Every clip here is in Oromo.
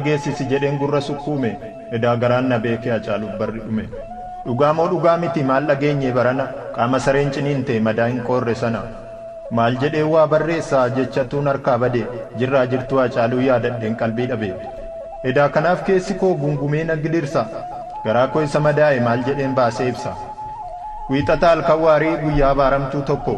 dhageessisi jedheen gurra sukkuume edaa garaan na beekee Hacaaluuf barri dhume Dhugaa moo dhugaa miti maal dhageenye barana Qaama sareen ciniinte madaa hin qoorre sana Maal jedheen waa barreessa jechatuun harkaa bade Jirraa jirtuu Hacaaluu yaadadheen qalbii dhabe Edaa kanaaf keessi koo gungumee na gidirsa Garaa koo isa madaa'e maal jedheen baasee ibsa Wiixata halkan waarii guyyaa abaaramtuu tokko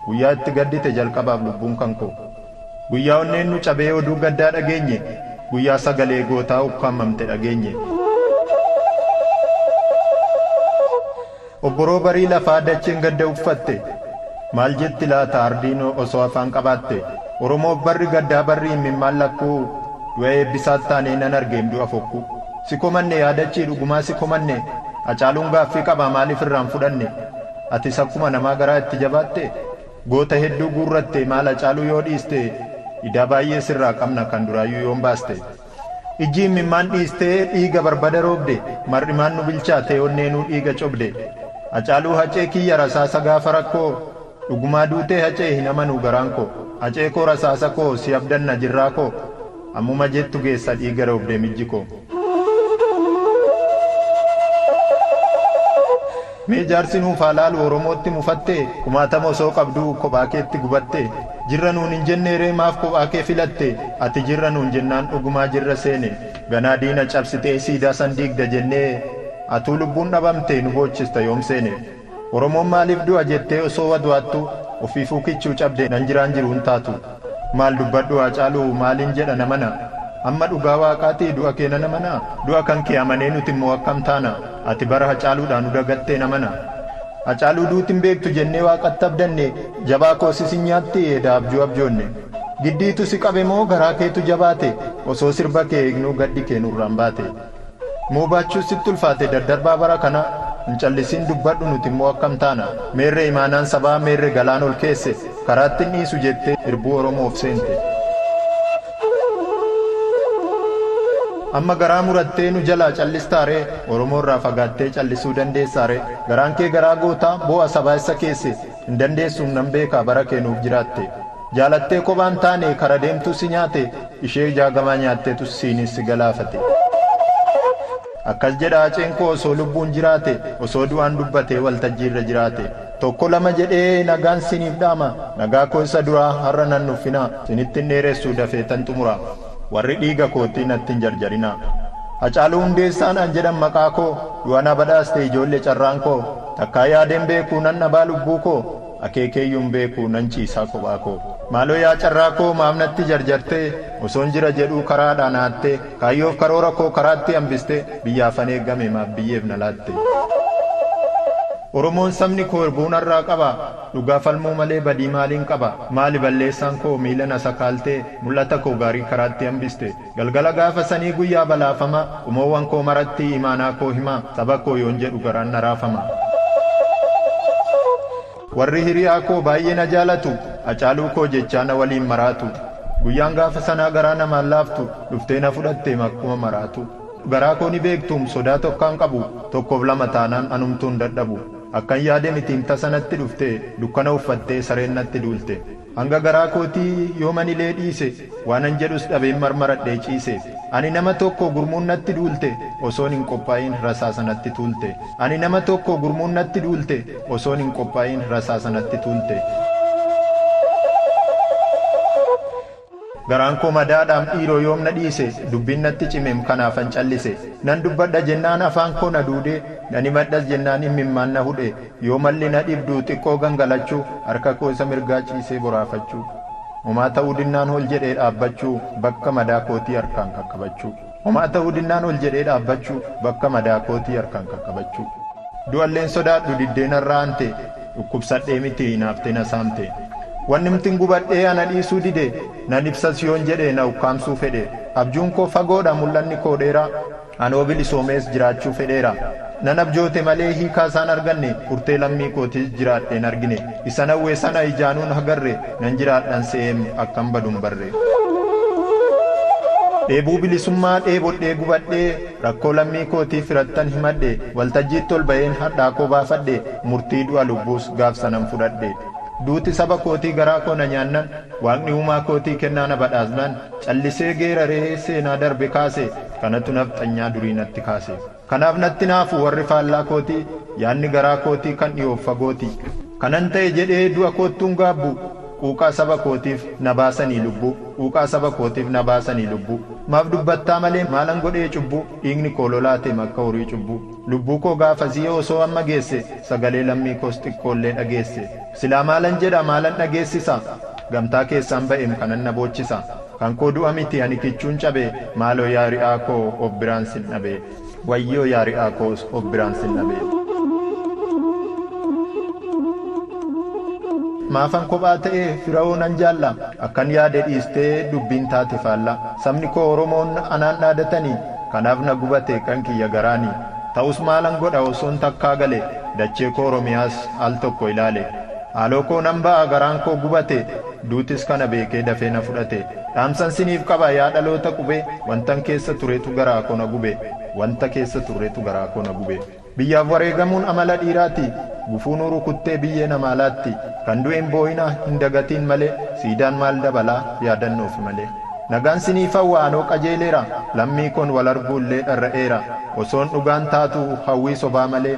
Guyyaa itti gaddite jalqabaaf lubbuun kan koo. Guyyaa onneen nu cabee oduu gaddaa dhageenye, guyyaa sagalee gootaa ukkaamamte dhageenye. Obboroo barii lafaa dacheen gadda uffatte, maal jetti laata ardiin osoo afaan qabaatte? Oromoof barri gaddaa barri immimmaan lakkuu, du'a Eebbisaat taanee nan argeem du'a fokkuu. Si komanne yaa dachii dhugumaa si komanne, Hacaaluun gaaffii qabaa maaliif irraa hin fudhanne? Atis akkuma namaa garaa itti jabaatte? Goota hedduu guurratte maal Hacaaluu yoo dhiiste Idaa baay'ee sirraa qabna kan duraayyuu yoom baaste Ijji immimmaan dhiiste dhiiga barbada roobde Mar'imaan nu bilchaate onneenuu dhiiga cobde Hacaaluu Hacee kiyya rasaasa gaafa rakkoo Dhugumaa duutee Hacee hin amanuu garaan koo Hacee koo rasaasa koo si abdanna jirraa koo Ammuma jettu geessa dhiiga roobde mijji koo. Mee jaarsi nuuf haa laalu oromootti mufatte kumaatama osoo qabduu kophaa keetti gubatte jirra nuun hin jennee ree maaf kophaa kee filatte ati jirra nuun jennaan dhugumaa jirra seene ganaa diina cabsitee siidaa san diigda jennee atuu lubbuun dhabamte nu boochista yoom seene. Oromoon maaliif du'a jettee osoo wadu'attu ofiifuu kichuu cabde nan jiraan jiru hin taatu maal dubbadhu haacaalu maaliin jedha namana amma dhugaa waaqaati du'a kee nan amana du'a kan kee amanee nuti immoo akkam taana ati bara hacaaluudhaa nu dagattee namana hacaaluu duuti hin beektu jennee waaqatti abdanne jabaa koo sis hin nyaatti edaa abjuu abjoonne giddiitu si qabe moo garaa keetu jabaate osoo sirba kee eegnuu gaddi kee nurraan baate. Moo baachuun sitti ulfaate daddarbaa bara kana Hin callisiin dubbadhu nuti immoo akkam taana Meerre imaanaan sabaa meerre galaan ol keesse Karaatti hin dhiisu jettee irbuu oromoof seente Amma garaa murattee nu jalaa callistaa ree Oromoo irraa fagaattee callisuu dandeessaa ree Garaan kee garaa gootaa boo'a sabaa essa keesse Hin dandeessuum nan beekaa bara kee nuuf jiraatte Jaalattee kophaa hin taane kara deemtuu si nyaate Ishee jaagamaa nyaatteetu siinis si galaafate Akkas jedha Haceen koo osoo lubbuun jiraate Osoo du'aan dubbate waltajjii irra jiraate Tokko lama jedhee nagaan siiniif dhaama Nagaa koo isa duraa har'a nan nuffinaa Sinitti hin dheeressu dafeetan xumuraa. Warri dhiiga koottii natti hin jarjarinaa. Hacaaluu Hundeessaa naan jedhan maqaa koo, du'a na badhaaste ijoolle carraan koo, takkaa yaadee hin beeku nan dhabaa lubbuu koo, akeekeeyyuu hin beeku nan ciisaa kophaa koo. Maaloo yaa carraa koo maaf natti jarjartee, osoon jira jedhuu karaadhaa na hattee, kaayyoof karoora koo karaatti hambistee, biyyaafan eegame maaf biyyeef na laatte. Oromoon sabni koo irbuun har'aa qaba, dhugaa falmuu malee badii maaliin qaba, maali balleessaan koo miila na sakaaltee, Mul'ata koo gaarii karaatti hambiste. Galgala gaafa sanii guyyaa balaafamaa. Qomoowwan koo maratti imaanaa koo himaa. Saba koo yoon jedhu garaan na raafama. Warri hiriyaa koo baay'ee na jaalatu. Hacaaluu koo jechaa na waliin maraatu. Guyyaan gaafa sanaa garaa namaan laaftu. Dhuftee na fudhatteem akkuma maraatu. Garaa koo ni beektuum sodaa tokkaan qabu. Tokkoof lama taanaan anumtuu hin dadhabu. Akkan yaade mitiim tasa natti dhufte. Dukkana uffattee sareen natti duulte. Hanga garaa kootii yooman ilee dhiise, waanan jedhus dhabeen marmaradhee ciise. Ani nama tokko gurmuun natti duulte, osoon hin qophaa'iin rasaasa natti tuulte. Ani nama tokko gurmuun natti duulte, osoon hin qophaa'iin rasaasa natti tuulte. Garaan koo madaadhaam dhiiroo yoom na dhiise, dubbiin natti cimeem kanaafan callise. Nan dubbadha jennaan afaan koo na duude, nan himadhas jennaan immimmaan na hudhe. Yoo malli na dhibdu xiqqoo gangalachuu, harka koo isa mirgaa ciisee boraafachuu. Homaa ta'uu dinnaan ol jedhee dhaabbachuu, bakka madaa kootii harkaan qaqqabachuu. Homaa ta'uu dinnaan ol jedhee dhaabbachuu, bakka madaa kootii harkaan qaqqabachuu. Du'alleen sodaadhu diddee narra aantee, dhukkubsadhee miti hinaaftee na saamtee. Wannimtin gubadhee ana dhiisuu didee, nan ibsas yoon jedhee na ukkaamsuu fedhee. Abjuun koo fagoodha mul'anni koo dheeraa, Anoo bilisoomees jiraachuu fedheera. Nan abjoote malee hiikaa isaa hin arganne, furtee lammii kootiis jiraadhee hin argine. Isan hawwe sana ijaanuu hin hagarre, nan jiraadhan se'eem akkan badu hin barre. Dheebuu bilisummaa dheebodhee gubadhe, rakkoo lammii kootii firattan himadhe, waltajjiitti ol ba'een hadhaa koo baafadhe, murtii du'a lubbuus gaaf sanan fudhadhe. Duuti saba kootii garaa koo na nyaannan, Waaqni uumaa kootii kennaa na badhaasnan, callisee geeraree seenaa darbe kaase. Kanatu nafxanyaa durii natti kaase. Kanaaf natti naafu warri faallaa kooti, yaadni garaa kooti kan dhiyoof fagooti. Kanan ta'e jedhee du'a koottuun gaabbu, quuqaa saba kootiif na baasanii lubbuu, quuqaa saba kootiif na baasanii lubbuu. Maaf dubbattaa malee maalan godhee cubbuu, dhiigni koo lolaa ta'em akka horii cubbuu. Lubbuu koo gaafasii osoo amma geesse, sagalee lammii koos xiqqoollee dhageesse. Silaa maalan jedha maalan dhageessisa, gamtaa keessaan ba'em kanan na boochisa. Kan koo du'a miti ani kichuun cabe maaloo yaa ri'aa koo of biraan sin dhabe. Wayyoo yaa ri'aa koo of biraan sin dhabe. Maafan kophaa ta'e firahoo nan jaalla akkan yaade dhiistee dubbiin taate faalla sabni koo oromoon anaan dhaadatani kanaaf na gubate kan kiyya garaani ta'us maalan godha osoon takkaa gale dachee koo oromiyaas al tokko ilaale. Haaloo koo nan ba'a garaan koo gubate Duutis kana beekee dafee na fudhate Dhaamsan siniif qaba yaa dhaloota qube Wantan keessa turetu garaa koo na gube Wanta keessa turretu garaa koo na gube Biyyaaf wareegamuun amala dhiiraati Gufuu nu rukuttee biyyee namaa laatti Kan du'e hin boo'inaa hin dagatiin malee Siidaan maal dabalaa yaadannoofi malee Nagaan siniif hawwa anoo qajeeleera Lammii koon wal arguu illee dharra'eera Osoon dhugaan taatuu hawwii sobaa malee